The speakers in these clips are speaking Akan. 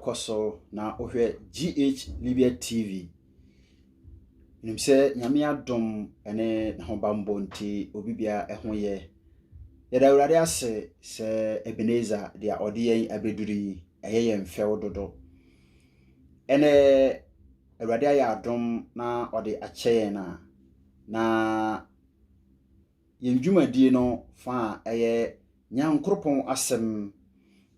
kɔ so na wohwɛ GH Libya TV nim sɛ nyame adom ne n'ahobammɔ nti obi bia ɛho yɛ yɛda awurade ase sɛ Ebenezer deɛ ɔde yɛn abɛduru yi ɛyɛ yɛn fɛw dodo ɛnɛ Awurade ayɛ adom na ɔde akyɛ yɛn a, na yɛn dwumadie no fa a ɛyɛ Nyankoropɔn asɛm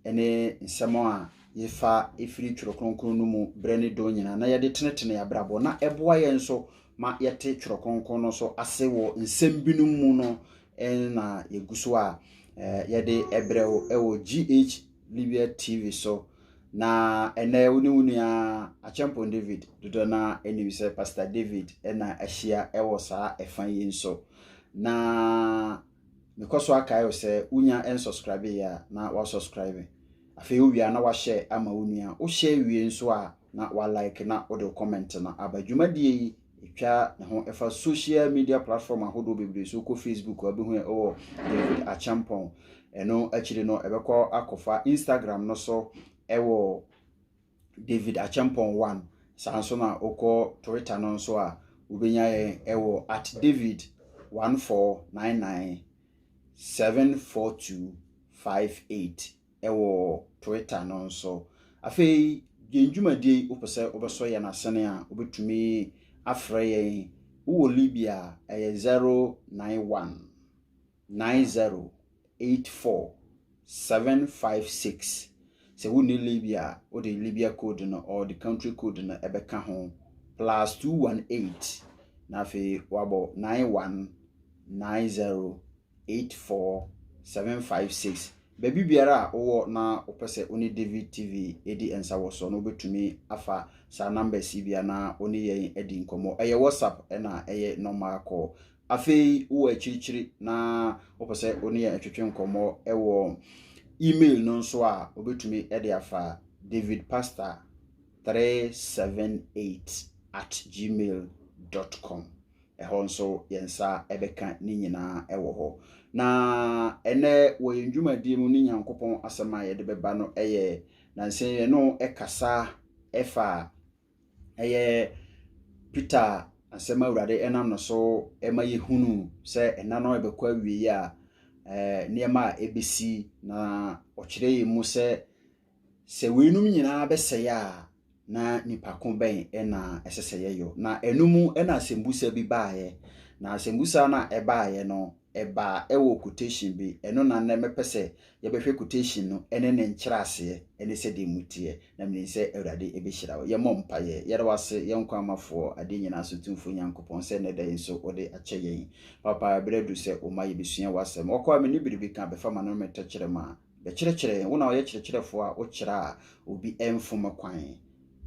ne nsɛm a yɛfa ɛfiri Twerɛ Kronkron no mu berɛ ne dɔn nyinaa na yɛde tenetene abrabɔ na ɛboa yɛn nso ma yɛte Twerɛ Kronkron no so ase wɔ nsɛm binom mu no na yɛgu so a yɛde ɛbrɛ wɔ GH Libya TV so Na ɛnɛ wo ne wo nua Akyɛmpɔn David dodoɔ no ara anim sɛ Pastor David na ahyia wɔ saa ɛfa yi nso. Na mekɔ so akae wo sɛ wonya ɛnsubscribe yɛ a na wasubscribe. Afei wowie a na wahyɛ ama wo nua. Wohyɛ wie nso a na walike na wode wo comment no aba. Dwumadie yi Etwa ne ho fa social media platform ahodoɔ bebree so. Wokɔ Facebook a wobɛhu yɛn wɔ David Acheampong. Ɛno akyiri no ɛbɛkɔ akɔfa Instagram no so wɔ David Acheampong one. Saa nso na wokɔ Twitter no nso a wobɛnya yɛn wɔ at David one four nine nine seven four two five eight. wɔ Twitter no nso. Afei, yɛn dwumadie yi, wopɛ sɛ wobɛsɔ yɛn asene a, wobɛtumi afrɛ yɛn. Wowɔ Libya a, ɛyɛ 091 9084 756. Sɛ wonni Libya a, wode Libya code no or the country code no ɛbɛka ho, plus 218, na afei wabɔ 91 90. eight four seven five six. Baabi biara a wowɔ na wopɛ sɛ wo ne David TV di nsa wɔ so no, wobɛtumi afa saa numbers yi bia na wo ne yɛn adi nkɔmmɔ. Ɛyɛ WhatsApp ɛna ɛyɛ normal call. Afei wowɔ akyirikyiri na wopɛ sɛ wo ne yɛn twetwe nkɔmmɔ wɔ email no nso a, wobɛtumi de afa David Pastor 378 at gmail dot com. Ɛhɔ nso, yɛn nsa bɛka ne nyinaa wɔ hɔ. Na ɛnnɛ wɔ yɛn dwumadie mu ne Nyankopɔn asɛm a yɛde bɛba no yɛ nansa yɛne no kasa ɛfa ɛyɛ Peter asɛm awurade ɛnam no so ɛma yɛhunu sɛ ɛna no ɛbɛkɔ awie a nneɛma a ɛbɛsi na ɔkyerɛ yɛn mu sɛ Sɛ weinom nyinaa bɛsɛe a, na nipa ko bɛn na ɛsɛ sɛ yɛyɔ? Na ɛno mu na asɛmbusa bi baeɛ. Na asɛmbusa no a ɛbaeɛ no, ɛbaa ɛwɔ quotation bi. Ɛno na nnɛ mɛpɛ sɛ yɛbɛhwɛ quotation no ne ne nkyerɛaseɛ ne sɛdeɛ ɛmu teɛ. Na menim sɛ Awurade bɛhyira wo. Yɛmmɔ mpaeɛ. Yɛda wo ase, yɛn nkwa mafoɔ, adeɛ nyinaa so tumfoɔ Nyankopɔn sɛ nnɛ da yi nso wode akyɛ yɛn. Papa, berɛ aduru sɛ woma yɛbɛsua w'asɛm. Ɔkɔ a menni biribi ka, bɛfa m'ano ne me tɛkyerɛma. Bɛkyerɛkyerɛ yɛn, wo na woyɛ kyerɛkyerɛfoɔ a wokyerɛ a obi mfom kwan.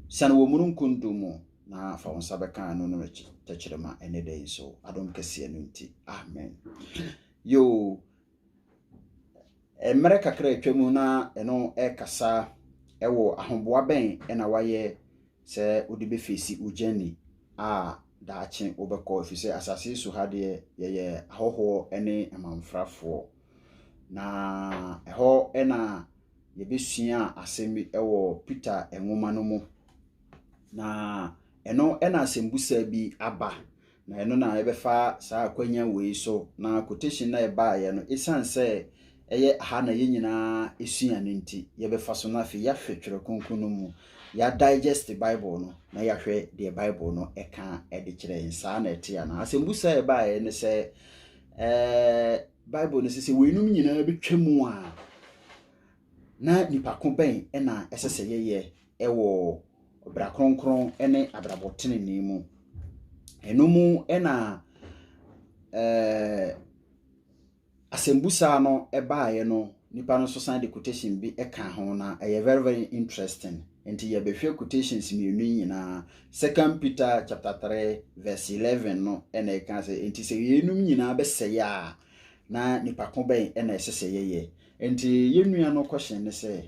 Siane wɔ omununkum dum mu na fa wo nsa bɛka ano no akyi tɛkyerɛma ɛnnɛ da yi nso, adom kɛseɛ no nti. Amen. Yoo, mmerɛ kakra atwa mu na ɛno ɛkasa ɛwɔ ahoboa bɛn ɛna wayɛ sɛ wode bɛfeesi wo gyani a daakye wobɛkɔ ɛfiri sɛ asase so ha deɛ yɛyɛ ahɔhoɔ ne amanfrafoɔ. Na ɛhɔ na yɛbɛsua asɛm bi wɔ Peter nwoma no mu. Na ɛno na asɛmbusa bi aba. Na ɛno na yɛbɛfa saa akwanya wei so. Na quotation no a ɛbaeɛ no, ɛsiane sɛ ɛyɛ ha na yɛn nyinaa sua no nti, yɛbɛfa so na afei yɛahwɛ Twerɛ Kronkron no mu. Yɛadigest Bible no na yɛahwɛ deɛ Bible no ɛka de kyerɛ yɛn. Saa na ɛte anaa? Asɛmbusa a ɛbaeɛ ne sɛ, Ɛɛ, Bible no sɛ sɛ weinom nyinaa bɛtwa mu a, na nipa ko bɛn na ɛsɛ sɛ yɛyɛ wɔ bra kronkron ne abrabɔ tenenee mu. Ɛno mu na ɛɛ asɛmbusa no baeɛ no, nipa no nso san de quotation bi ka ho na ɛyɛ very very interesting. Ntsi yɛbɛhwɛ quotations mmienu yi nyinaa. Second Peter chapter three verse eleven no na ɛka sɛ, Enti sɛ yeinom nyinaa bɛsɛe a, na nipa ko bɛn na ɛsɛ sɛ yɛyɛ? Enti yɛn nua no question ne sɛ,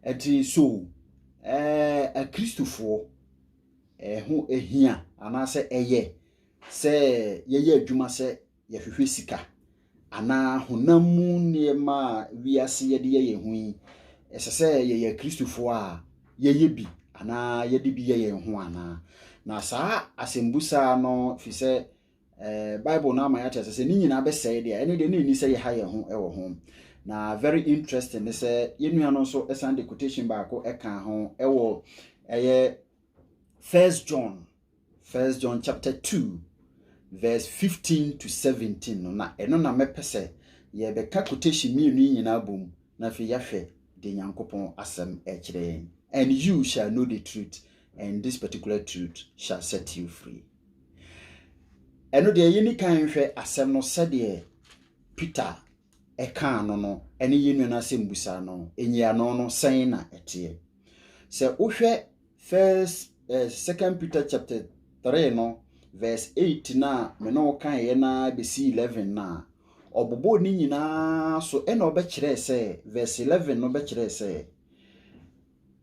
ɛnti so ɛɛ Akristofoɔ ɛho hia anaasɛ ɛyɛ sɛ yɛyɛ adwuma sɛ yɛhwehwɛ sika anaa honam mu nneɛma a wiase yɛde yɛ yɛn ho yi, ɛsɛ sɛ yɛyɛ Kristofo a yɛyɛ bi anaa yɛde bi yɛ yɛn ho anaa? Na saa asɛmbusa no fi sɛ ɛɛ Bible no ama yɛakyerɛ sɛ sɛ ne nyinaa bɛsɛe deɛ ɛne deɛ na ɛni sɛ yɛha yɛn ho wɔ ho. Na very interesting ne sɛ yɛn nua no nso ɛsan de quotation baako ɛka ho ɛwɔ ɛyɛ First John First John chapter 2 verse 15 to 17 no na ɛno na mɛpɛ sɛ yɛbɛka quotation mmienu yi nyinaa bom na afei yɛahwɛ deɛ Nyankopɔn asɛm ɛkyerɛ yɛn. And you shall know the truth and this particular truth shall set you free. Ɛno deɛ yɛni kan nhwɛ asɛm no sɛdeɛ Peter ɛkaa no no ɛne yɛn nua no asɛm busa no ɛnyiano no sɛn na ɛteɛ. Sɛ wohwɛ First, eh, Second Peter chapter three no, verse eight na me ne wo kaeɛ na bɛsi eleven na ɔbobɔɔ ne nyinaa so ɛna ɔbɛkyerɛɛ sɛ verse eleven no bɛkyerɛɛ sɛ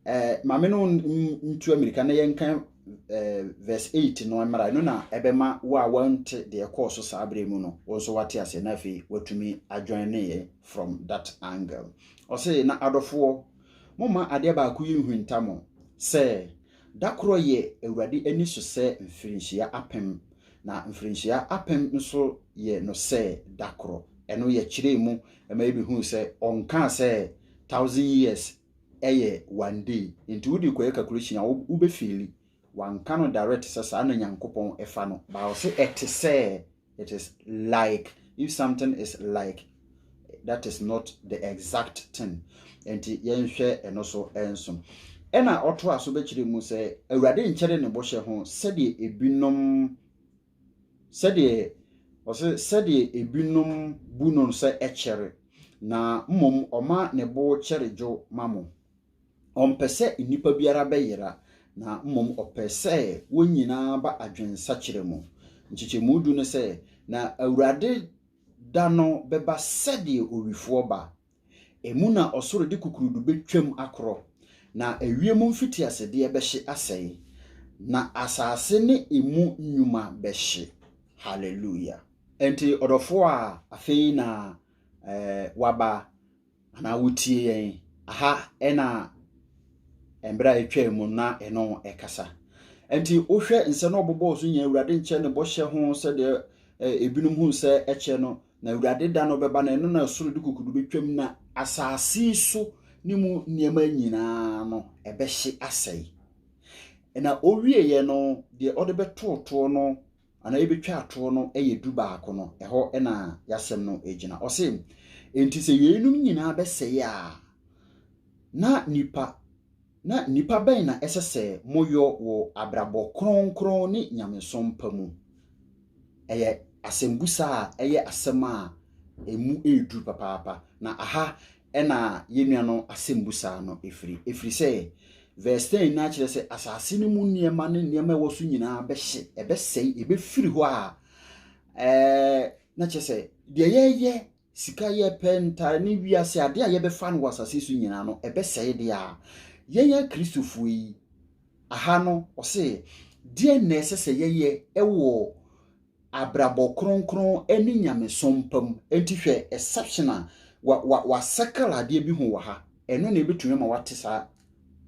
eh, maame no ntu amirika na yɛnka eh, verse eight no mmara ɛno na ɛbɛma wo a wante deɛ ɛkɔɔ so saa berɛ mu no wo nso wate aseɛ na afei watumi adwane ne yɛ from that angle ɔse na adɔfoɔ Momma adeɛ baako yi nnhunta mo, sɛ, da korɔ yɛ Awurade ani so sɛ mfirinhyia apem, na mfirinhyia apem nso yɛ no sɛ da korɔ. Ɛno yɛkyerɛɛ mu ma yɛbɛhuu sɛ ɔnkaa sɛ thousand years yɛ one day, nti wode kɔyɛ calculation a wobɛfeeli. Wanka no direct sɛ saa na Nyankopɔn fa no. But ɔse ɛte sɛ it is like if something is like that is not the exact thing nti yɛnhwɛ ɛno so nso ɛna ɔto aso bɛkyerɛ mu sɛ awurade nkyɛre ne bɔhyɛ ho sɛdeɛ ebinom sɛdeɛ ɔsɛ sɛdeɛ ebinom bu no sɛ ɛkyɛre na mmom ɔma ne bo kyɛre dwo ma mo Ɔmpɛ sɛ nnipa biara bɛyera, na mmom ɔpɛ sɛ wɔn nyinaa ba adwensakyera mu. Nkyekyɛmu du no sɛ, Na Awurade da no bɛba sɛdeɛ owifoɔ ba. Emu na ɔsoro de kukurudu bɛtwam akorɔ, na ewiem mfitiasedeɛ bɛhye asɛe, na asase ne emu nnwuma bɛhye. Hallelujah! Enti ɔdɔfoɔ a afei na waba anaa wotie yɛn. Aha na mmerɛ a ɛtwaa mu na ɛno ɛkasa. Nti wohwɛ nsɛ no ɔbobɔɔ so nyɛ Awurade nkyɛ ne bɔhyɛ ho sɛdeɛ ebinom hu sɛ ɛkyɛ no na Awurade da no bɛba na ɛno na soro de kukudu bɛtwam na asase so ne mu nneɛma nyinaa no ɛbɛhye asɛe. Na ɔwieɛ no deɛ ɔde bɛtootoɔ no anaa yɛbɛtwa atoɔ no yɛ du baako no, ɛhɔ na yɛasɛm no gyina. Ɔse, enti sɛ yeinom nyinaa bɛsɛe a, na nipa na nipa bɛn na ɛsɛ sɛ moyɔ wɔ abrabɔ kronkron ne nyamesom pa mu? Ɛyɛ asɛmbusa a ɛyɛ asɛm a ɛmu ɛreduru papaapa. Na aha ɛna yɛn nua no asɛmbu saa no ɛfiri ɛfiri sɛ verse 10 no akyerɛ sɛ asase no mu nneɛma ne nneɛma ɛwɔ so nyinaa bɛhye ɛbɛsɛe ɛbɛfiri hɔ a ɛɛ na kyerɛ sɛ deɛ yɛyɛ sika yɛpɛ ntare ne wiase adeɛ a yɛbɛfa no wɔ asase so nyinaa no ɛbɛsɛe deɛ a yɛnyɛ kristofoɔ yi aha no ɔse deɛ na ɛsɛ sɛ yɛyɛ ɛwɔ abrabɔ kronkron ne nyamesom pa mu. Enti hwɛ exception a wa wa wasɛkɛl adeɛ bi ho wɔ ha. Ɛno na ebetumi ama wate saa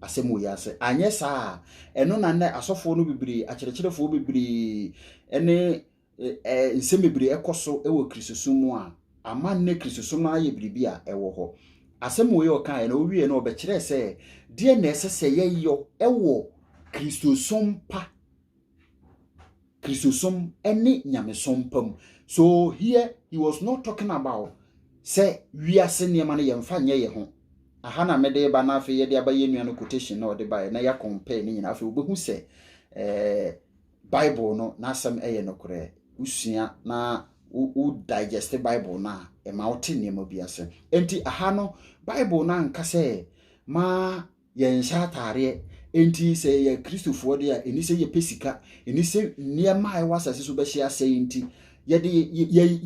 asɛm wɔ yi ase. Anyɛ saa a, ɛno na nnɛ asɔfoɔ no bebree, akyerɛkyerɛfoɔ bebree ne ɛ nsɛm bebree ɛkɔ so wɔ Kristosom mu a, ama nnɛ Kristosom no ayɛ biribi a ɛwɔ hɔ. Asɛm wɔ yi ɔkaeɛ na ɔwieɛ no ɔbɛkyerɛɛ sɛ deɛ na ɛsɛ sɛ yɛyɔ wɔ Kristosom pa Kristosom ne nyamesom pa mu. So here he was not talking about sɛ wiase nneɛma no yɛmfa nyɛ yɛ ho. Aha na mede ba na afei yɛde aba yɛn nua no quotation na ɔde baeɛ na yɛakɔmpɛɛ ne nyinaa afei wobɛhu sɛ eh, Bible no n'asɛm yɛ nokorɛ. Wosua na wo digest Bible no a ɛma wote nneɛma bi ase. Enti aha no Bible no anka sɛ ma yɛnhyɛ ataareɛ enti sɛ yɛyɛ kristofoɔ deɛ a ɛni sɛ yɛpɛ sika ɛni sɛ nneɛma a ɛwɔ asase so bɛhyɛ asɛe nti yɛde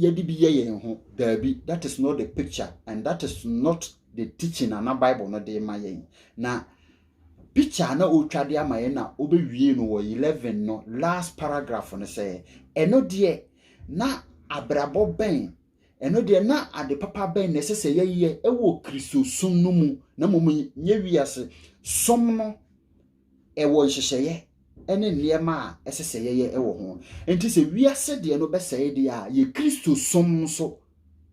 yɛde bi yɛ yɛn ho daabi that is not the picture and that is not the teaching ana bible no de ma yɛn na picture na ɔtwa de ama yɛn na ɔbɛwie no wɔ 11 no last paragraph no sɛ ɛno deɛ na abrabɔ bɛn Ɛno deɛ, na ade papa bɛn na ɛsɛ sɛ yɛyɛ wɔ Kristosom no mu na mmom nyɛ wiase som no? Ɛwɔ nhyehyɛeɛ ne nneɛma a ɛsɛ sɛ yɛyɛ wɔ ho. Enti sɛ wiase deɛ no bɛsɛe deɛ a, yɛ Kristosom nso,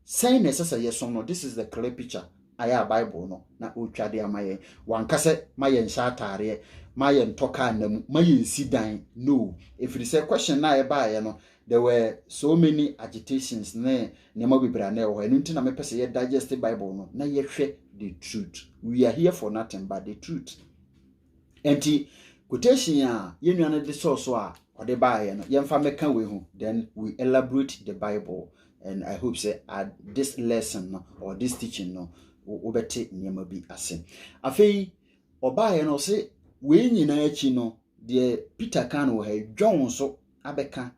sɛn na ɛsɛ sɛ yɛsom no? This is the clear picture ayɛ a Bible no na ɔretwa de ama yɛn. Wanka sɛ ma yɛnhyɛ ataareɛ, ma yɛntɔ kaa nna mu, ma yɛnsi dan. No, ɛfiri sɛ question no a ɛbaeɛ no, There were so many agitations ne nneɛma bebree a na ɛwɔ hɔ. Ɛno nti na mepɛ sɛ yɛ digest Bible no na yɛhwɛ the truth. We are here for nothing but the truth. Nti quotation a yɛn nua no de sɔɔ so a ɔde baeɛ no yɛmfa mɛka wei ho then we elaborate the Bible and I hope sɛ at this lesson no or this teaching no wobɛte nneɛma bi ase. Afei ɔbaeɛ no ɔse wei nyinaa akyi no deɛ Peter kan wɔ ha John nso abɛka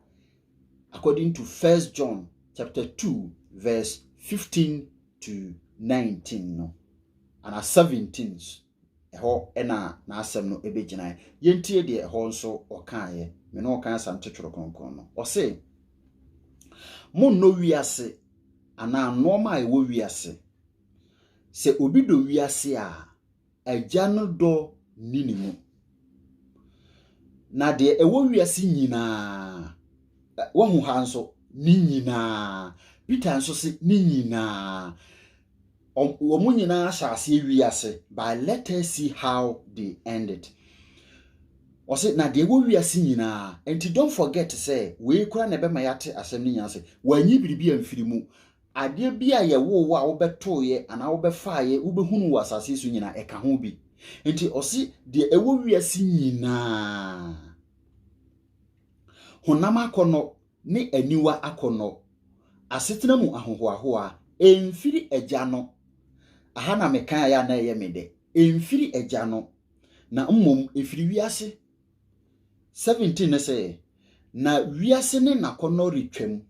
according to First John chapter two verse fifteen to nineteen no ana seventeen ɛhɔ ɛna n'asɛm no ɛbɛgyinae yɛntie deɛ ɛhɔ nso ɔkaeɛ me ne ɔkan asam titworo kronkron no ɔse monnɔ wiase anaa nnoɔma a ɛwɔ wiase sɛ obi dɔ wiase a Agya no dɔ nni ne mu. Na deɛ ɛwɔ wiase nyinaa, wahu ha nso, ne nyinaa. Peter nso se ne nyinaa. Wɔn nyinaa hyɛ aseɛ wiase, but let us see how they end it. Ɔse na deɛ ɛwɔ wiase nyinaa, nti don't forget sɛ wei kora na ɛbɛma yɛate asɛm no nyinaa sɛ wanyi biribi amfiri mu. Adeɛ biara a yɛwoo wo a wobɛtoeɛ anaa wobɛfaeɛ wobɛhunu wɔ asase yi so nyinaa ɛka ho bi. Nti ɔse deɛ ɛwɔ wiase nyinaa, honam akɔnnɔ ne aniwa akɔnnɔ, asetena mu ahohoahoa, ɛmfiri Agya no, aha na mekaeɛ a na ɛyɛ me dɛ, ɛmfiri Agya no, na mmom ɛfiri wiase. 17 ne sɛ, Na wiase ne n'akɔnnɔ retwam,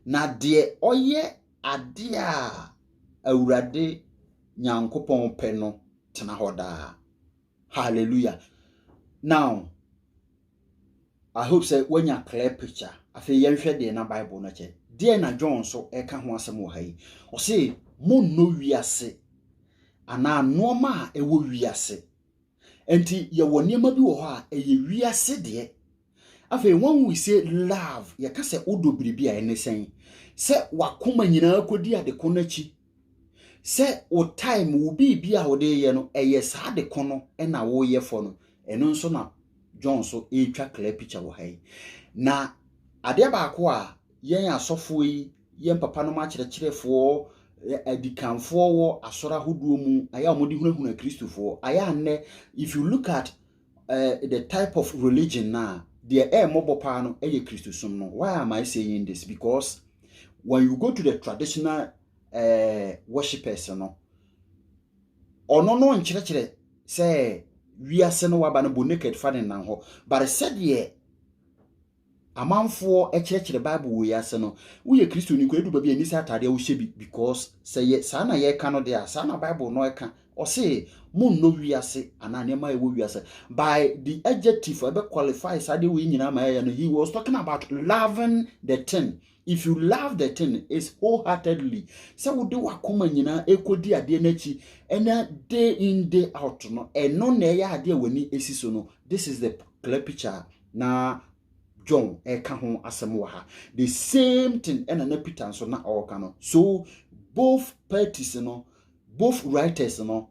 na deɛ ɔyɛ adeɛ a Awurade Nyankopɔn pɛ no tena hɔ daa. Hallelujah. Now, I hope sɛ woanya clear picture. Afei yɛnhwɛ deɛ na Bible no kyɛ. Deɛ na John nso ɛka ho asɛm wɔ ha yi. Ɔse, monnɔ wiase anaa nnoɔma a ɛwɔ wiase Enti yɛwɔ nneɛma bi wɔ hɔ a ɛyɛ wiase deɛ. Afei when we say love, yɛka sɛ wodɔ biribi a ɛne sɛn? Sɛ wakoma nyinaa kɔdi adeko no akyi, sɛ wo time, wo biribi a wode yɛ no, ɛyɛ saa adeko no na woyɛ fɔ no, ɛno nso na John so ɛretwa clear picture wɔ ha yi. Na adeɛ baako a Yɛn asɔfoɔ yi yɛ mpapanom akyerɛkyerɛfoɔ, adikanfoɔ wɔ asɔre ahodoɔ mu, ayɛ a wɔde hunahuna Kristofoɔ. Ayɛ a nnɛ, if you look at uh, the type of religion na deɛ ɛmmɔbɔ paa no ɛyɛ Kristosom no. Why am I saying this? Because when you go to the traditional uh, worshippers no, ɔno no nkyerɛkyerɛ sɛ wiase no waba no bɔ naked fa ne nan hɔ. But sɛdeɛ Amanfoɔ kyerɛkyerɛ Bible wei ase no, woyɛ Kristoni nko a, ɛdu baabi a ɛnni sɛ ataadeɛ a wohyɛ bi because sɛ yɛ saa na yɛreka no deɛ a, saa na Bible no ka. Ɔse, Monnɔ wiase anaa nneɛma a ɛwɔ wiase. By the adjective a ɛbɛ qualify saa adeɛ wei nyinaa ma ɛyɛ no, he was talking about loving the thing. If you love the thing, it's wholeheartedly. Sɛ wode w'akoma nyinaa ɛkɔdi adeɛ no akyi ɛna day in day out no, ɛno na ɛyɛ adeɛ a w'ani si so no. This is the clear picture a na john ɛka ho asɛm wɔ ha the same thing ɛna na peter nso na ɔreka no so both parties no both writers no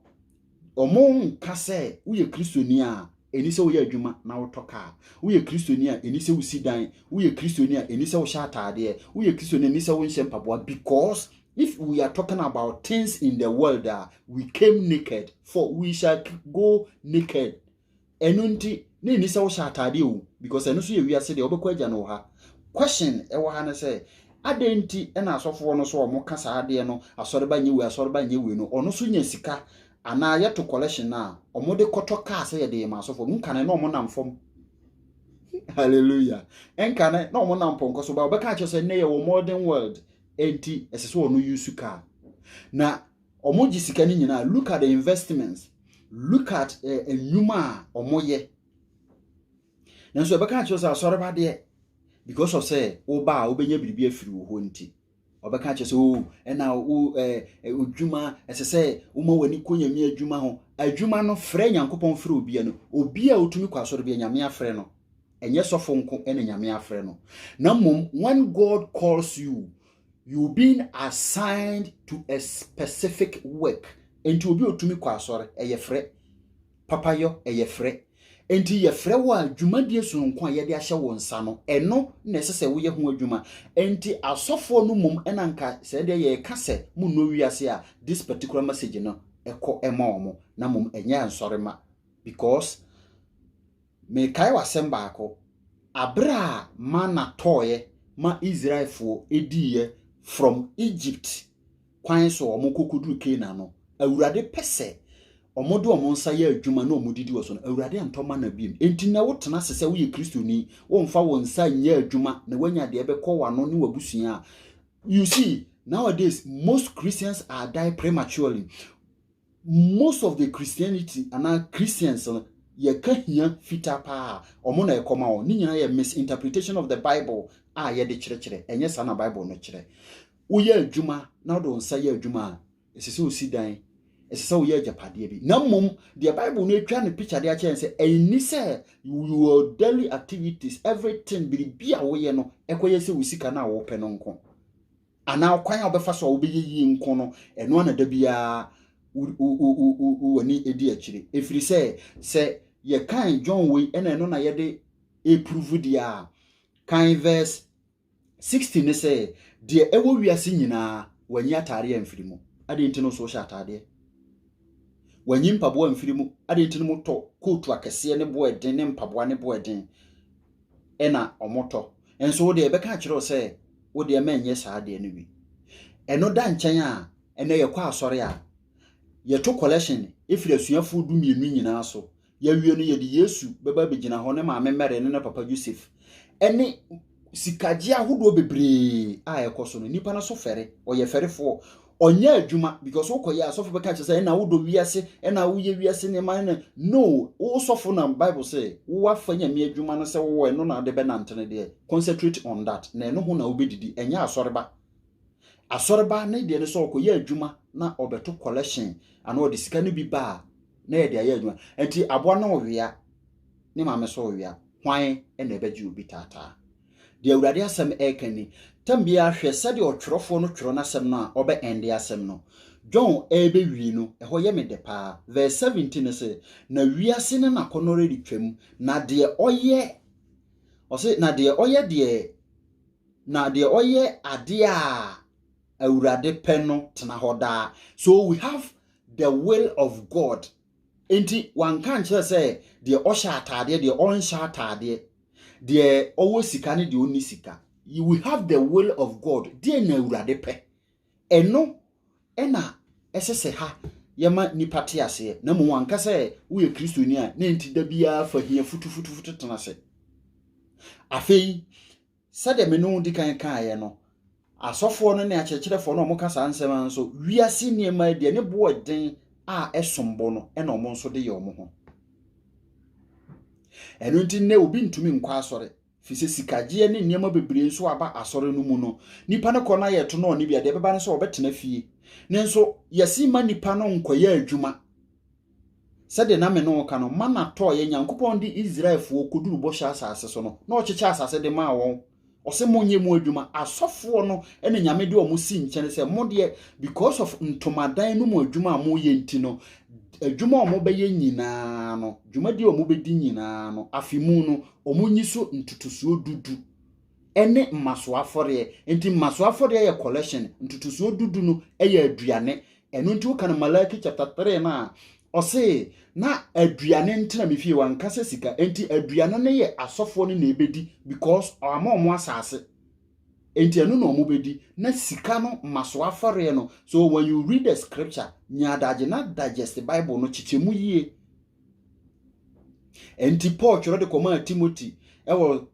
wɔn nka sɛ woyɛ kristoni a ɛni sɛ woyɛ adwuma na wotɔ kaa woyɛ kristoni a ɛni sɛ wosi dan woyɛ kristoni a ɛni sɛ wohyɛ ataadeɛ woyɛ kristoni a ɛni sɛ wonhyɛ mpaboa because if we are talking about things in the world uh, we came naked for we shall go naked ɛno nti na ɛni sɛ wohyɛ ataadeɛ o because ɛno nso yɛ wiase deɛ wobɛkɔ agya no wɔ ha question ɛwɔ ha no sɛ adɛn nti ɛna asɔfoɔ no so ɔmo ka saa adeɛ no asɔreba nyɛ wei asɔreba nyɛ wei no ɔno so nya sika anaa yɛto collection no a ɔmo de kɔtɔ kaa sɛ yɛde yɛ ma asɔfoɔ no nkane na ɔmo nam fam hallelujah nkane na ɔmo nam pɔnkɔ so ba ɔbɛka akyerɛ sɛ nnɛ yɛ wɔ modern world ɛnti ɛsɛ sɛ ɔno yusu kaa na Ɔmo gye sika no nyinaa. Look at the investments. Look at eh, nnwuma a ɔmo yɛ. Nanso ɛbɛka akyerɛ sɛ asɔreba deɛ because of sɛ woba a wobɛnya biribi afiri wo hɔ nti. Ɔbɛka akyerɛ sɛ o ɛna wo eh, eh, odwuma ɛsɛ sɛ woma w'ani kɔ nyame adwuma ho. Adwuma no frɛ Nyankopɔn frɛ obia no. Obi a otumi kɔ asɔre bia nyame afrɛ no. Ɛnyɛ sɔfo nko ɛna nyame afrɛ no. Na mmom when God calls you you being assigned to a specific work nti obi otumi kɔ asɔre ɛyɛ frɛ papayɔ ɛyɛ frɛ nti yɛfrɛ wo a dwumadie sononko a yɛde ahyɛ wo nsa no ɛno na ɛsɛ sɛ woyɛ ho adwuma nti asɔfoɔ no mmom ɛna nka sɛ deɛ yɛka sɛ mo nnɔ wiase a this particular message no ɛkɔ ɛma wɔn na mmom ɛnyɛ nsɔre ma because Merekae w'asɛm baako. Aber a manna tɔɔɛ ma Israelfoɔ diiɛ from Egypt kwan so a wɔkɔkɔduru Canaan no, Awurade pɛ sɛ wɔde wɔn nsa yɛ adwuma na wɔdidi wɔ so no, Awurade antɔ mana biom. Enti nnɛ wotena ase sɛ woyɛ Kristoni, womfa wo nsa nyɛ adwuma na woanya deɛ ɛbɛkɔ w'ano ne w'abusua a, you see, nowadays most Christians are die prematurely. Most of the Christianity anaa Christians no yɛka hia fitaa paa ɔmo na ɛkɔma wɔn ne nyinaa yɛ misinterpretation of the Bible a yɛde kyerɛkyerɛ ɛnyɛ saa na Bible no kyerɛ. Woyɛ adwuma na wode wo nsa yɛ adwuma a ɛsɛ sɛ osi dan ɛsɛ sɛ woyɛ agyapadeɛ bi na mmom deɛ Bible no atwa ne picture de akyerɛ yɛn sɛ ɛnni sɛ your daily activities everything biribi a woyɛ no ɛkɔyɛ sɛ wo sika no a wopɛ no nko. anaa ɔkwan a wobɛfa so a wobɛyɛ yie nko no, ɛno ara na da biara w'ani di akyire. Ɛfiri sɛ, sɛ yɛkan John wei na ɛno na yɛde ɛpuruvu deɛ a, kan verse 16 ne sɛ, deɛ ɛwɔ wiase nyinaa wanyi ataadeɛ amfiri mu, adeɛ nti no nso wohyɛ ataadeɛ. Wanyi mpaboa amfiri mu, adeɛ nti no motɔ kootu akɛseɛ ne boɔ ɛden ne mpaboa ne boɔ ɛden. na wɔtɔ. Nanso wo deɛ, yɛbɛka akyerɛ wo sɛ wo deɛ ma ɛnyɛ saa adeɛ no bi. Ɛno da nkyɛn a, ɛnɛ yɛkɔ asɔre a, yɛto collection firi asuafoɔ du mmienu nyinaa so. Yɛawie no, yɛde Yesu bɛba abɛgyina hɔ, ne maame Mary ne ne papa Yosef, ne sikagye ahodoɔ bebree a ɛkɔ so no. Nnipa no so fɛre, wɔyɛ fɛrefoɔ, ɔnyɛ adwuma because wokɔyɛ a sɔfo bɛka kyerɛ sɛ ɛna wodɔ wiase ɛna woyɛ wiase nneɛma ɛna no wo sɔfo na bible sɛ wowafa nyame adwuma no sɛ wowɔ ɛno na ade bɛnante no deɛ concentrate on that na ɛno ho na wobɛdidi ɛnyɛ asɔreba asɔreba ne deɛ no sɛ ɔkɔyɛ adwuma na ɔbɛto collection anaa ɔde sika no bi ba a na yɛde ayɛ adwuma nti aboa no ɔwea ne maame so ɔwea hwan na ɛbɛgye obi taataa Deɛ Awurade asɛm reka ni, Tam biara hwɛ sɛdeɛ ɔtwerɛfoɔ no twerɛ n'asɛm no a ɔbɛ ɛnde asɛm no. John rebɛ wie no, ɛhɔ yɛ me dɛ paa. Verse 17 no se, Na wiase ne n'akɔnnɔre retwam, na deɛ ɔyɛ, ɔse, na deɛ ɔyɛ deɛ, na deɛ ɔyɛ adeɛ a Awurade pɛ no tena hɔ daa. So we have the will of God Enti wanka ankyerɛ sɛ deɛ ɔhyɛ ataadeɛ, deɛ ɔnhyɛ ataadeɛ, deɛ ɔwɔ sika ne deɛ ɔnni sika. You will have the will of God. Deɛ na Awurade pɛ. Ɛno ɛna ɛsɛ sɛ ha yɛma nipa te aseɛ. Na mmom wanka sɛ woyɛ Kristoni a na enti da biara fa hia futufutufutu tena ase. Afei Sɛdeɛ me ne wo di kan kaeɛ no, asɔfoɔ no ne akyerɛkyerɛfoɔ no a wɔka saa nsɛm ara nso, wiase nneɛma yi deɛ ne bo yɛ den a ɛsom bo no na wɔn nso de yɛ wɔn ho. Ɛno nti nnɛ obi ntumi nkɔ asɔre fi sɛ sikagyeɛ ne nneɛma bebree nso aba asɔre no mu no nipa no kɔ no ayɛ to no ɔne bia deɛ ɛbɛba no sɛ ɔbɛtena fie ne nso yɛse ma nipa no nkɔyɛ adwuma Sɛdeɛ na me ne wo ka no, mana tɔɔeɛ. Nyankopɔn de Israelfoɔ kɔduru bɔhyɛ asase so no, na ɔkyekyɛ asase de maa wɔn. Ɔse monyɛ mu adwuma. Asɔfoɔ no na Nyame de wɔn si nkyɛn sɛ mo deɛ because of ntomadan no mu adwuma a moyɛ nti no, adwuma a wɔbɛyɛ nyinaa no, dwumadie a wɔbɛdi nyinaa no, afe mu no, wɔnyi so ntotosoɔ dudu ne mmasoɔ afɔreɛ. Nti mmasoɔ afɔreɛ yɛ collection, ntotosoɔ du du no yɛ aduane. Ɛno nti woka no Malaki chapter 3 no a, ɔse na aduane ntena me fie, wanka sɛ sika. Nti aduane no yɛ asɔfoɔ no na ɛbɛdi because ɔama ɔmo asase. Nti ɛno na ɔmo bɛdi. Na sika no mmasoɔ afɔreɛ no. So when you read the scripture, nya adagye na digest Bible no, kyekyɛ mu yie. Nti Paul twerɛ de kɔmaa Timothy wɔ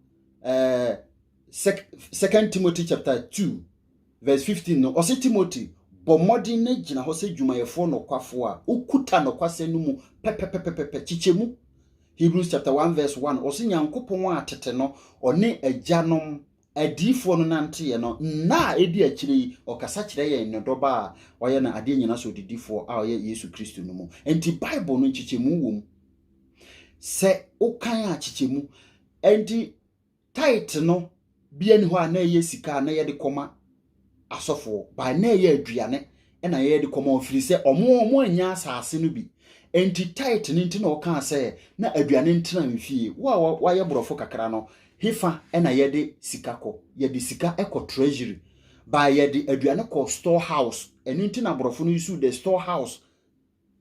eh, second timothy chapter 2 verse 15 no ɔse timothy bɔ mmɔden na gyina hɔ sɛ dwumayɛfoɔ nɔkwafoɔ a wokuta nɔkwasɛ no mu pɛpɛpɛpɛpɛ kyekyɛ mu hebrews chapter 1 verse 1 ɔse nyankopɔn a tete no ɔne agyanom adiifoɔ no nanteɛ no nna a ɛdi akyire yi ɔkasa kyerɛ yɛn ne dɔba a ɔyɛ no adeɛ nyina so ɔdidifoɔ a ɔyɛ yesu kristo no mu nti bible no nkyekyɛmu wɔ mu sɛ wokan a kyekyɛmu Enti tithe no bi ani hɔ a na ɛyɛ sika a na yɛde kɔma asɔfoɔ by na ɛyɛ aduane na yɛde kɔma ɔfiri sɛ ɔmo ɔmo annya asaase no bi enti tithe no nti na ɔkaa sɛ na aduane ntena mfie wo a wayɛ borɔfo kakra no hefa na yɛde sika kɔ yɛde sika kɔ treasury by yɛde aduane kɔ store house ɛno nti na borɔfo no use the store house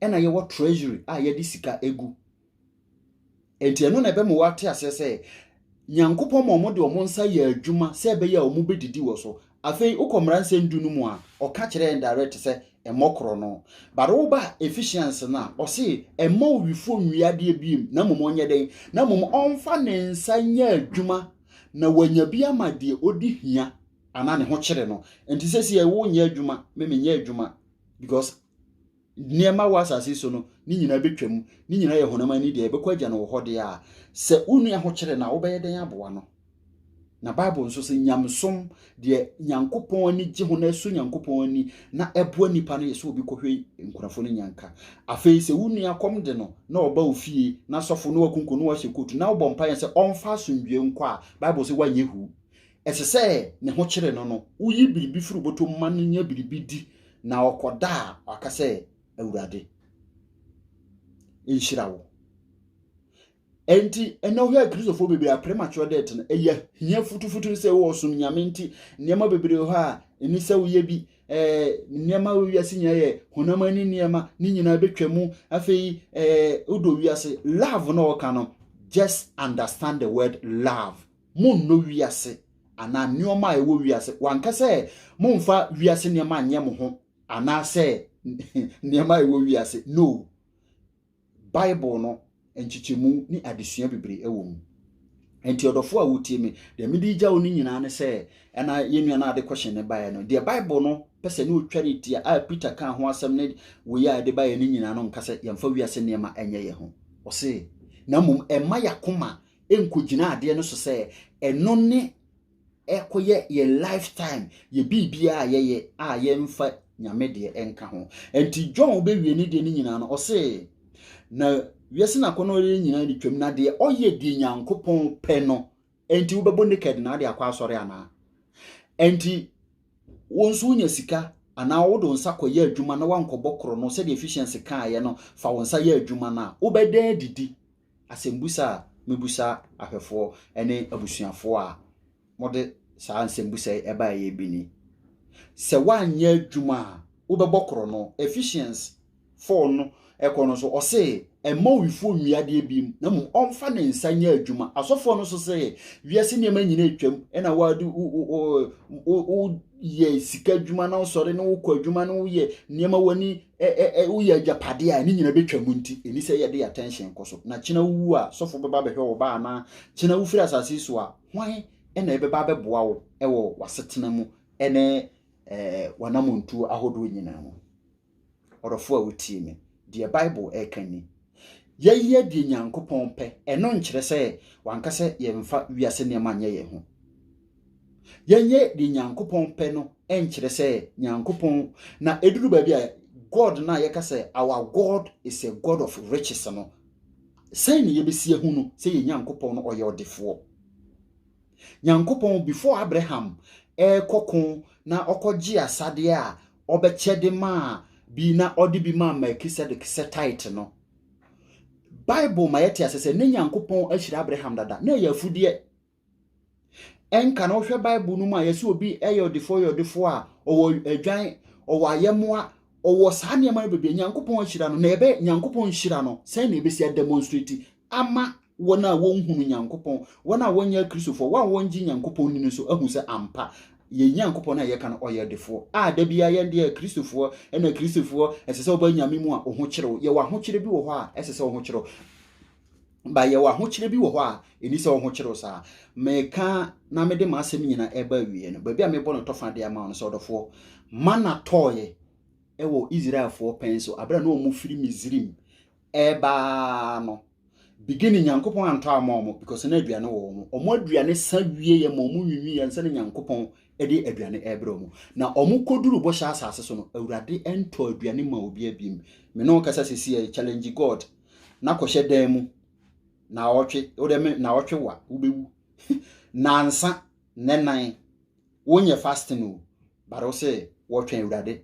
ɛna yɛwɔ treasury a yɛde sika egu nti ɛno na ɛbɛma wɔate aseɛ sɛ nyankopɔn ma wɔn de wɔn nsa yɛ adwuma sɛ ɛbɛyɛ a wɔn bɛdidi wɔ so afei wokɔ mmaransɛm du no mu a ɔka kyerɛ yɛn direct sɛ ɛmmɔ korɔ no but woba efficiency no a ɔse ɛmma owifoɔ nwie adeɛ biem na mmom ɔnyɛ dɛn na mmom ɔmfa ne nsa nyɛ adwuma na wanya bi ama deɛ ɔdi hia anaa ne ho kyere no nti sɛ si ɛwo nyɛ adwuma me menyɛ adwuma because nneɛma wɔ asase so no ne nyinaa bɛtwam ne nyinaa yɛ honam ani deɛ ɛbɛkɔ agya no wɔ hɔ deɛ a sɛ wo nua ho kyerɛ no a wobɛyɛ dɛn aboa no na bible nso sɛ nyamsom deɛ nyankopɔn ani gye ho na ɛsɔ nyankopɔn ani na ɛboa nnipa no yɛ sɛ obi kɔhwɛ nkurɔfoɔ no nyanka afei sɛ wo nua kɔm de no na ɔba wo fie na sɔfo no wakunko no wahyɛ kotu na wobɔ mpaeɛ sɛ ɔmfa asomdwoe nkɔ a bible sɛ woanyɛ hu ɛsɛ sɛ ne ho kyere no no, woyi biribi firi bɔtɔ mu ma no nya biribi di na ɔkɔda a waka sɛ Awurade nhyira wo. Enti ɛnɛ ɔhwɛ a Kristofoɔ bebree a premature death no ɛyɛ hia futufutu sɛ wɔsom Nyame nti nneɛma bebree hɔ a ɛni sɛ woyɛ bi ɛɛ nneɛma wɔ wiase nyinaa yɛ honam ani nneɛma ne nyinaa bɛtwa mu afei ɛɛ wodɔ wiase love na ɔka no just understand the word love Monnɔ wiase anaa nneɛma a ɛwɔ wiase. Wanka sɛ mommfa wiase nneɛma nyɛ mo ho anaasɛ nneɛma a ɛwɔ wiase. No. Bible no nkyekyɛmu ne adesua bebree wɔ mu. Nti ɔdɔfo a wotie me, deɛ mede regya wo no nyinaa ne sɛ, ɛna yɛn nua no ade kɔhyɛn ne baeɛ no, deɛ Bible no pɛ sɛ ne ɔtwa ne tia a Peter kaa ho asɛm ne wei a ɛde baeɛ no nyinaa no nka sɛ yɛmfa wiase nneɛma nyɛ yɛn ho. Ɔse, na mmom ɛma yɛakoma nkɔgyina adeɛ no so sɛ ɛno ne ɛkɔyɛ yɛ lifetime yɛ biribiara a yɛyɛ a yɛmfa nyame deɛ nka ho nti john bɛwie ne deɛ no nyinaa no ɔse na wiase no akɔnɔ yɛ nyinaa de twam na deɛ ɔyɛ deɛ nyankopɔn pɛ no nti wobɛbɔ naked na ade akɔ asɔre anaa nti wo nso wonya sika anaa wode wo nsa kɔyɛ adwuma na wankɔbɔ korɔ no sɛdeɛ efficiency kaeɛ no fa wo nsa yɛ adwuma no a wobɛda adidi asɛmbusa a mebisa ahwɛfoɔ ne abusuafoɔ a mode saa nsɛmbusa yi ɛbaeɛ bi ni. Sɛ woanyɛ adwuma a wobɛbɔ korɔ no, Ephesians 4 no ɛkɔ no so, ɔse ɛmma owifoɔ nwie adeɛ bi mu, na mmom ɔmfa ne nsa nyɛ adwuma. Asɔfoɔ no nso se wiase nneɛma nyina atwam, ɛna wode woyɛ sika adwuma na wosɔre na wokɔ adwuma na woyɛ nneɛma w'ani ɛɛ woyɛ agyapadeɛ a ne nyina bɛtwa mu nti ɛni sɛ yɛde attention kɔ so na kyena wowu a sɔfo bɛba bɛhwɛ wo ba anaa kyena wofiri asase so a hwan ɛna ɛbɛba bɛboa wo ɛwɔ wasetena mu ɛne ɛɛ wanamontuo ahodoɔ nyinaa mu ɔdɔfo a wotie me deɛ bible ɛka ni yɛyɛ deɛ nyankopɔn pɛ ɛno nkyerɛ sɛ wanka sɛ yɛmfa wiase nneɛma nyɛ yɛn ho Yɛnyɛ deɛ Nyankopɔn pɛ no nkyerɛ sɛ Nyankopɔn na ɛduru baabi a God no a yɛka sɛ our God is a God of riches no sɛn na yɛbɛsi ahu no sɛ yɛ Nyankopɔn no ɔyɛ ɔdefoɔ. Nyankopɔn before Abraham ɛrekɔko na ɔkɔgye asadeɛ a ɔbɛkyɛde maa bi na ɔde bi maa Melchizedek sɛ tithe no Bible ma yɛte ase sɛ ne Nyankopɔn ahyira Abraham dada na ɛyɛ afudeɛ Ɛnka no, wohwɛ Bible no mu a, yɛsɛ obi yɛ ɔdefoɔ yɛ ɔdefoɔ a, ɔwɔ adwan, ɔwɔ ayɛmmoa, ɔwɔ saa nneɛma no bebree. Nyankopɔn ahyira no, na ɛbɛ Nyankopɔn nhyira no, sɛn na ɛbɛsi ademonstrate ama wɔn a wɔnhunu Nyankopɔn, wɔn a wɔnyɛ Akristofoɔ, wɔn a wɔngye Nyankopɔn ni no nso ahu sɛ ampa yɛn Nyankopɔn a yɛka no ɔyɛ ɔdefoɔ. A da biara yɛn deɛ Akristofoɔ ɛna Akristofoɔ ɛsɛ sɛ wɔba Nyame mu a ɔho kyerɛw. Yɛwɔ ahokyerɛ bi wɔ hɔ a ɛsɛ sɛ ɔho kyerɛw. ba yɛwɔ ahokyerɛ bi wɔ hɔ a ɛni sɛ wɔhokyere wo saa meka na mede m'asɛm nyina ɛba awieɛ no baabi a mebɔ no tɔfa de ama no sɛ ɔdɔfoɔ mana tɔɔyɛ ɛwɔ israelfoɔ pɛn so aberɛ na ɔmo firi misrim ɛbaa no bigini nyankopɔn antɔ ama ɔmo because na aduane wɔ ɔmo ɔmo aduane sa wieɛ ma ɔmo nwinwiyɛ nsɛ ne nyankopɔn ɛde aduane ɛbrɛ ɔmo na ɔmo kɔduru bɔhyɛ asase so no awurade ɛntɔ aduane ma obi abim me ne ɔkasa sisi challenge god na kɔhyɛ dan mu naawɔtwe wode me naawɔtwe wa wobɛwu nansa nnɛ nan wonyɛ fasting o bare wo sɛ wɔtwɛn awurade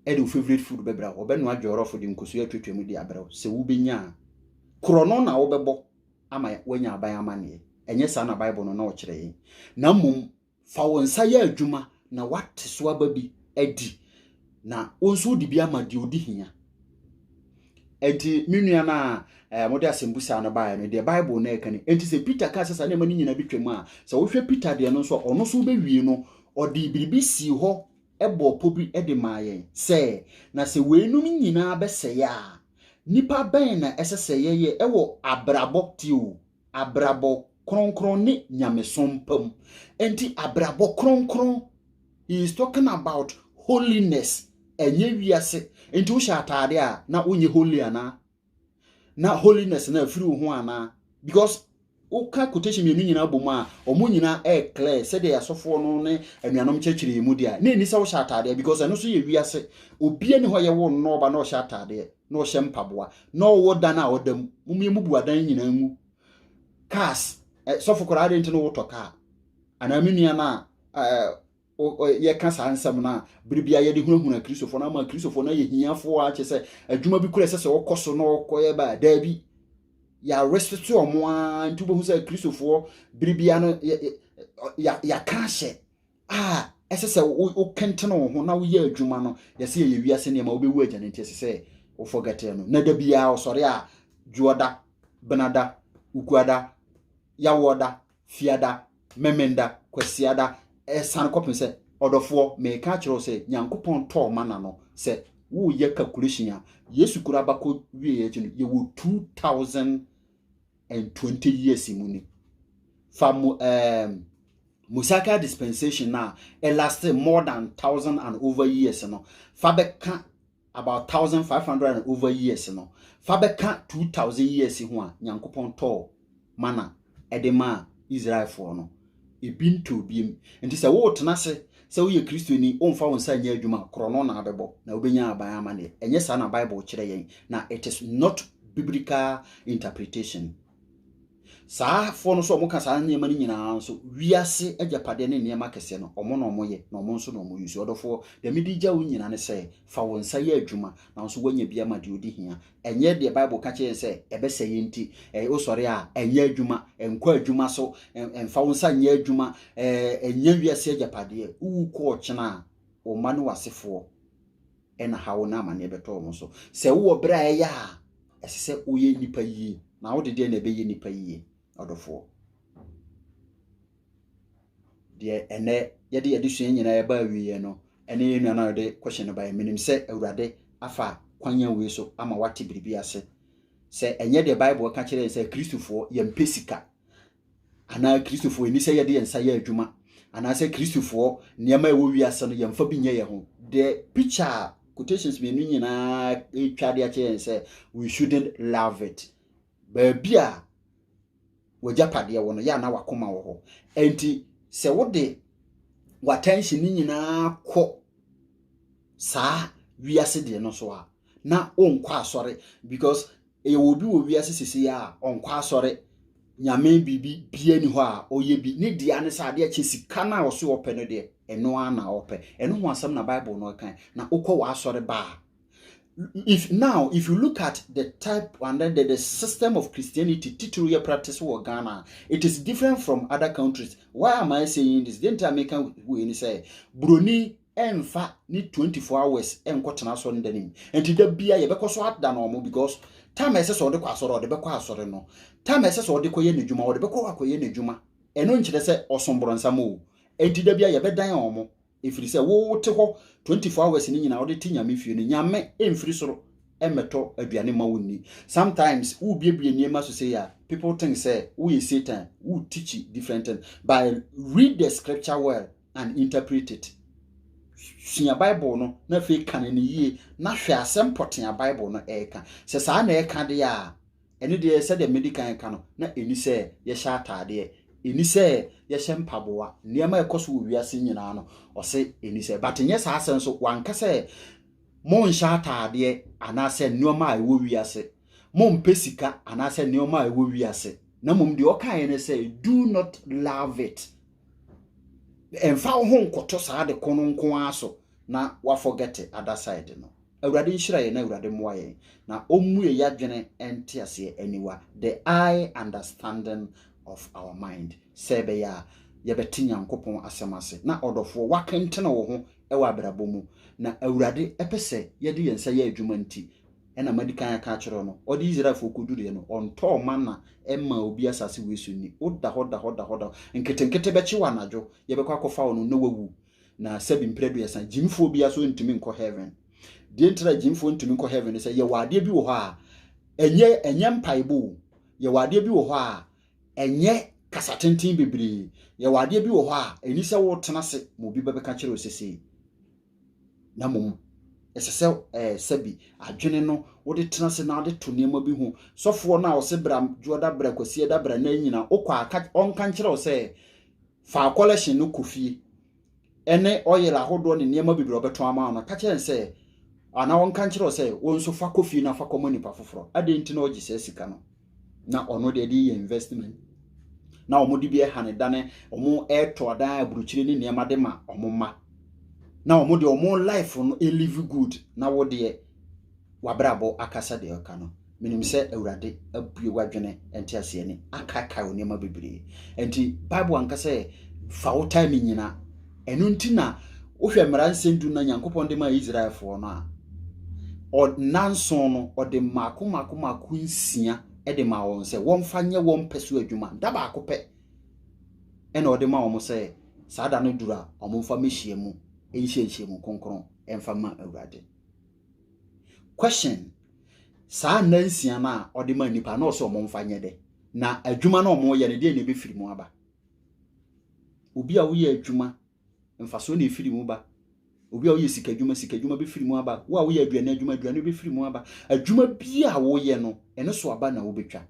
ɛde wo favorite food bɛbrɛ wo ɔbɛnoa dwɔrɔfo de nkosua atwatwa mu de abrɛ wo sɛ wobɛnya a korɔ no na wobɛbɔ ama woanya aban amanneɛ ɛnyɛ saa na bible no na ɔkyerɛ yɛn na mmom Fa wo nsa yɛ adwuma na woate so aba bi adi, na wo nso wode bi ama deɛ ɔdi hia. Enti me nua no a eh, mode asɛmbusa no baeɛ no, deɛ Bible no ɛka ni. Enti sɛ Peter kaa sɛ saa nneɛma no nyinaa bɛtwam a, sɛ wohwɛ Peter deɛ no nso a, ɔno nso wobɛwie no, ɔde biribi sii hɔ bɔɔ pɔ bi de maa yɛn sɛ, na sɛ weinom nyinaa bɛsɛe a, nnipa bɛn na ɛsɛ sɛ yɛyɛ wɔ abrabɔ teo abrabɔ kronkron ne nyamesom pa mu. Enti abrabɔ kronkron, he is talking about holiness, ɛnyɛ wiase. Enti wohyɛ ataade a na wonyɛ holy anaa? Na holiness na afiri wo ho anaa? Because woka quotation mmienu nyinaa bɔ mu a wɔn nyinaa ɛyɛ clear sɛdeɛ asɔfoɔ no ne anuanom kyerɛkyerɛ yɛn mu deɛ a na ɛni sɛ wohyɛ ataadeɛ because ɛno nso yɛ wiase obia ni hɔ yɛwo nnɔɔba na ɔhyɛ ataadeɛ na ɔhyɛ mpaboa na ɔwɔ dan a ɔda mu mom yɛ mubu adan nyinaa ngu cars eh, sɔfo koraa de nti no wotɔ car anaa me nua no a eh, yɛka saa nsɛm no a bere bia yɛde hunahuna kristofoɔ no ama kristofoɔ no ayɛ hiafoɔ a kyɛ sɛ adwuma bi kora ɛsɛ sɛ ɔkɔ so na ɔkɔyɛ baa daabi yɛaresete ɔmo a nti wobɛhu sɛ kristofoɔ bere bia no yɛaka ahyɛ a ɛsɛ sɛ wokentene wo ho na woyɛ adwuma no yɛsɛ yɛyɛ wiase nneɛma wobɛwu agya no nti ɛsɛ sɛ wofɔgɛtee no na da biara ɔsɔre a dwoɔda benada ukuada yawɔda fiada memenda kwasiada ɛsane kɔpem sɛ ɔdɔfoɔ meka akyerɛ wo sɛ nyankopɔn tɔɔ mana no sɛ woyɛ calculation a yesu kura abakɔ wieɛ akyi no yɛwɔ 2000 and twenty years mu ni fa mo ɛɛm um, mosaical dispensation na ɛlaste more than thousand and over years no fa bɛka about thousand five hundred and over years no fa bɛka two thousand years ho a nyankopɔn tɔɔ mana ɛde maa israelfoɔ no ebi ntɔ obi mu. Nti sɛ woretena ase sɛ woyɛ Kristoni, womfa wo nsa nyɛ adwuma a, korɔno na abɛbɔ, na wobɛnya aban amanneɛ. Ɛnyɛ saa na Bible kyerɛ yɛn, na it is not biblical interpretation. Saa foɔ no nso wɔka saa nneɛma no nyinaa nso, wiase agyapadeɛ ne nneɛma kɛseɛ no, wɔn na wɔyɛ, na wɔn nso na wɔn use. Ɔdɔfoɔ, deɛ mede gya wo nyina ne sɛ, fa wo nsa yɛ adwuma, na wo nso woanya bi ama deɛ ɔdi hia. Ɛnyɛ deɛ Bible ka kyerɛ yɛn sɛ ɛbɛsɛ yɛn nti. Ɛyɛ wosɔre a, ɛnyɛ adwuma, ɛnkɔ adwuma so, ɛmfa wo nsa nyɛ adwuma, ɛnyɛ wiase agyapadeɛ. Wowu kɔ ɔkyena a, wo mma ne w'asefoɔ na haw ne amaneɛ bɛtɔ wɔn so. Sɛ wowɔ berɛ a ɛyɛ a, ɛsɛ sɛ woyɛ nnipa yie, na wode deɛ na ɛbɛyɛ nnipa yie, ɔdɔfoɔ. Deɛ ɛnnɛ yɛde adesua nyinaa ɛba awieɛ no, ɛne yɛn nua no a ɔde question no baeɛ. Menim sɛ Awurade afa kwan a wei so ama wate biribi ase. Sɛ ɛnyɛ deɛ Bible ka kyerɛ yɛn sɛ Kristofoɔ yɛmpɛ sika, anaa Kristofoɔ ɛni sɛ yɛde yɛn nsa yɛ adwuma, anaasɛ Kristofoɔ nneɛma a ɛwɔ wiase no yɛmfa bi nyɛ yɛn ho. Deɛ picture a quotations mmienu nyinaa ɛretwa de akyerɛ yɛn sɛ we shouldn't love it. Baabi a w'agyapadeɛ wɔ no, yɛ a na w'akoma wɔ hɔ. Enti sɛ wode w'attention no nyinaa kɔ saa wiase deɛ no so a, na wonkɔ asɔre because yɛwɔ obi wɔ wiase sisi a ɔnkɔ asɔre nyame biribi bia ni hɔ a ɔyɛ bi ne deɛ ne sɛ adeɛ kye sika no a ɔso ɔpɛ no deɛ ɛno ara na ɔpɛ ɛno ho asɛm na bible no ɔkan na wokɔ w'asɔre baa if now if you look at the type and then the, the system of christianity titiri yɛ practice wɔ ghana it is different from other countries why am i saying this den ti a meka wei ni sɛ buroni ɛnfa ne 24 hours ɛnkɔtena asɔre da nim nti da bia yɛbɛkɔ so ada no ɔmo because tam ɛsɛ sɛ ɔde kɔ asɔre ɔde bɛkɔ asɔre no tam ɛsɛ sɛ ɔde kɔyɛ n'adwuma ɔde bɛkɔ akɔyɛ n'adwuma ɛno nkyerɛ sɛ ɔsom borɔnsam o nti da bia yɛbɛdan ɔmo ɛfiri sɛ wote hɔ 24 hours no nyinaa wode te nyame fie no nyame ɛmfiri soro ɛmmɛtɔ aduane ma wonni sometimes wobiebie nneɛma so sɛ a people think sɛ woyɛ satan wo teach different thing by read the scripture well and interpret it sua bible no na afei ka no ne yie na hwɛ asɛm pɔtee a bible no ɛreka sɛ saa na ɛka deɛ a Ɛno deɛ, sɛdeɛ madi kan reka no, na ɛnni sɛ yɛhyɛ ataadeɛ, ɛnni sɛ yɛhyɛ mpaboa, nneɛma a ɛkɔ so wɔ wiase nyinaa no, ɔse ɛnni sɛ. But nyɛ saa sɛ nso wanka sɛ monhyɛ ataadeɛ anaasɛ nneɛma a ɛwɔ wiase, mompɛ sika anaasɛ nneɛma a ɛwɔ wiase. Na mmom deɛ ɔkaeɛ ne sɛ do not love it. Ɛmfa wo ho nkoto saa de ko no nko ara so. na wafɔgɛte adasaɛde no. Awurade nhyira yɛn na Awurade mmoa yɛn na ɔmmue yadwene nteaseɛ aniwa, the eye understanding of our mind, sɛ ɛbɛyɛ a yɛbɛte Nyankopɔn asɛm ase. Na ɔdɔfoɔ, wakentene wo ho wɔ abrabɔ mu na Awurade pɛ sɛ yɛde yɛn nsa yɛ adwuma nti ɛna madikan aka akyerɛ wo no. Ɔde Israelfoɔ kɔduruiɛ no, ɔntɔɔ mana mmaa obi asase wei so nni. Woda hɔ da hɔ da hɔ da hɔ, nketenkete bɛkye wo anadwo, yɛbɛkɔ akɔfa wo no na wawu. Na sɛbi mprɛduasa gyimfoɔ bia so ntumi nkɔ heaven. Deɛ ntira gyimfoɔ ntumi nkɔ heaven sɛ yɛwɔ adeɛ bi wɔ hɔ a ɛnyɛ ɛnyɛ mpaebɔ o. Yɛwɔ adeɛ bi wɔ hɔ a ɛnyɛ kasa tenten bebree. Yɛwɔ adeɛ bi wɔ hɔ a ɛni sɛ wotena ase ma obi bɛbɛka kyerɛ sɛ sei. Na mmom ɛsɛ sɛ ɛɛ sɛbi adwene no wode tena ase na wode to nneɛma bi ho. Sɔfoɔ no a ɔse bra dwoɔda bra kwasiɛ da bra na nyina wokɔ a ɔnka nkyerɛ wo sɛ faa kɔlɛhyen no kɔ fie ɛne ɔyɛl ahodoɔ ne nneɛma bebree ɔbɛtɔn ama no ka kyerɛ sɛ anaa ɔnka nkyerɛ sɛ wo nso fa kɔ fie na fa kɔma nipa foforɔ adɛn nti na ɔgye saa sika no na ɔno deɛ de yɛ investment na wɔn de bi ɛha ne da ne wɔn ɛtɔ adan aburukyire ne nneɛma de ma wɔn mma na wɔn deɛ wɔn life no ɛlive good na wo deɛ w'abrabɔ akasa deɛ ɔka no menim sɛ awurade abue w'adwene nteaseɛ ne akaekae wo nneɛma bebree nti bible anka sɛ fa wo time nyina ɛno nti na wohwɛ mmara nsɛm du na nyankopɔn de maa israelfoɔ no a ɔnanson no ɔde mmaako mmaako mmaako nsia de maa wɔn sɛ wɔmfa nyɛ wɔn pɛ so adwuma da baako pɛ ɛna ɔde ma wɔn sɛ saa da no duru a wɔmfa mmɛhyia mu nhyia nhyia mu kronkron ɛmfa ma awurade Question, Saa nna nsia no a ɔde ma nnipa na ɔsɛ ɔmo mfa nyɛ dɛ? Na adwuma no ɔmo yɛ no deɛ na ɛbɛfiri mu aba? Obi a woyɛ adwuma, mfasoɔ na ɛfiri mu ba. Obi a woyɛ sika adwuma, sika adwuma bɛfiri mu aba. Wo a woyɛ aduane adwuma, aduane bɛfiri mu aba. Adwuma bi a woyɛ no, ɛno so aba na wobɛtwa.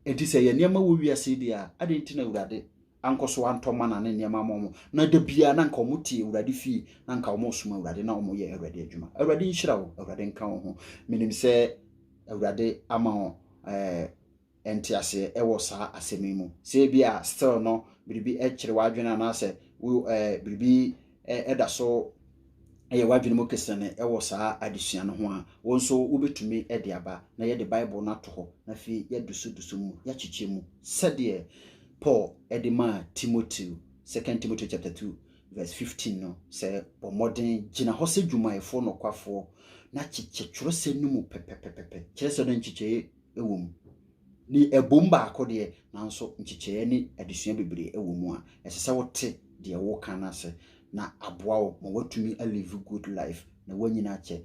Enti sɛ yɛ nneɛma wɔ wiase deɛ a, adɛn nti na Awurade ankɔ so antɔ mana ne nneɛma ama wɔn, na da biara na anka wɔte Awurade fie, na anka wɔresom Awurade, na wɔyɛ Awurade adwuma. Awurade nhyira wo, Awurade nka wo ho. Menim sɛ Awurade ama wo ɛɛ nteaseɛ wɔ saa asɛm yi mu. Sɛ ebi a still no biribi kyere w'adwene anaasɛ wo ɛɛ biribi da so yɛ w'adwene mu kesene wɔ saa adesua no ho a, wo nso wobɛtumi de aba na yɛde Bible no ato hɔ na afei yɛadusudusu mu, yɛakyekyɛ mu sɛdeɛ Paul de maa Timoteo, 2 Timoteo chapter 2 verse 15 no, sɛ bɔ mmɔden gyina hɔ sɛ dwumayɛfoɔ nokwafoɔ na kyekyɛ twerɛsɛm no mu pɛpɛpɛpɛpɛ. Kyerɛ sɛ no nkyekyɛe wɔ mu. Ne ɛbom baako deɛ, nanso nkyekyɛeɛ ne adesua bebree wɔ mu a ɛsɛ sɛ wote deɛ wɔreka no ase na aboa wo ma woatumi a live good life na woanyini akyɛ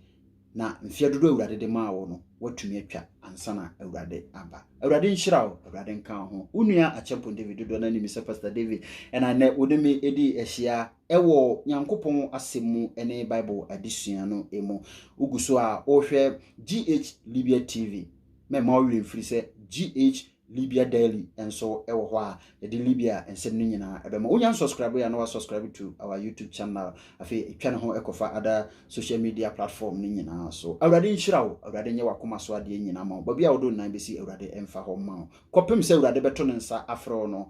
na mfeɛ dodoɔ a Awurade de maa wo no woatumi atwa ansa na Awurade aba. Awurade nhyira wo, Awurade nka wo ho. Wo nua Acheampong David dodoɔ no ara nim me sɛ Pastor David ɛna nnɛ wo ne me ɛdi ahyia wɔ Nyankopɔn Asɛm mu ne Bible adesua no mu. Wogu so a wohwɛ GH Libya TV, mɛma wo werɛ mfiri sɛ GH Libya Daily nso wɔ hɔ a yɛde Libya nsɛm no nyinaa ɛbɛma. Wonya nsubscribe a na wasubscribe to our YouTube channel. Afei ɛtwa ne ho ɛkɔfa ada social media platform no nyinaa so. Awurade nhyira wo, Awurade nyɛ wakoma so adeɛ nyinaa ma wo. Baabi a wode wo nan bɛsi Awurade mfa hɔ mma wo. Kɔpem sɛ Awurade bɛto ne nsa afrɛ wo no,